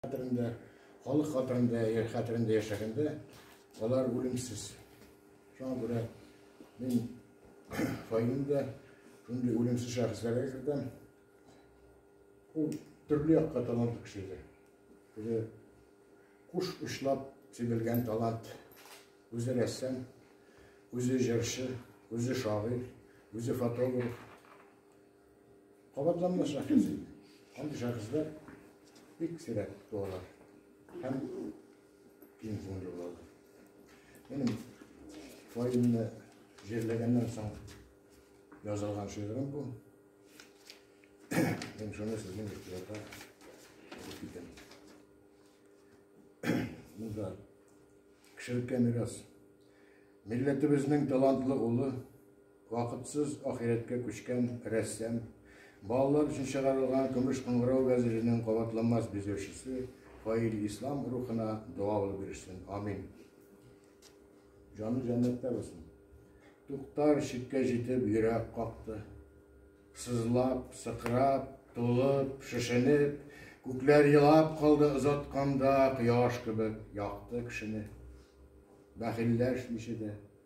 Хәтерендә, халык хәтерендә, яр хәтерендә яшәгәндә, алар үлемсез. Шуңа күрә мин файлымда шундый үлемсез шәхесләргә кертәм. Ул төрле якка талантлы кеше иде. Үзе куш учлап сибелгән талант. Үзе рәссам, үзе җырчы, үзе шагыйрь, үзе фотограф. Кабатланма шәхес. Андый шәхесләр бик сирәк туалар һәм киң күңелле булалар. Минем фаилне җирләгәннән соң язылган шигырем бу. Мин шуны сезнең игътибарга алып китәм. Монда кешелеккә мирас. Милләтебезнең талантлы улы Вакытсыз ахирәткә күчкән рәссам, балалар өчен чыгарылган Көмеш кыңгырау газетының кабатланмас бизәүчесе Фаил Ислам рухына дога булып бирешсен. Амин. Җаны җәннәттә булсын. Туктар чиккә җитеп йөрәк какты. Сызлап, сыкрап, тулып, шешенеп, күкләр елап калды озатканда кояш кебек якты кешене. Бәхилләшмичә дә,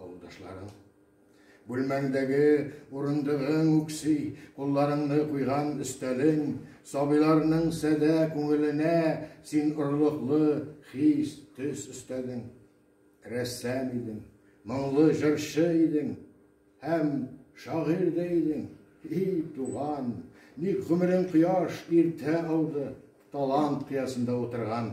Авылдашларың. Бүлмәңдәге урындыгың үкси, кулларыңны куйган өстәлең, сабыйларның сәдә күңеленә син орлыклы хис, төс өстәдең. Рәссам идең, моңлы җырчы идең һәм шагыйрь дә идең. И туган, ник гомерең кояш иртә ауды, талант кыясында утырган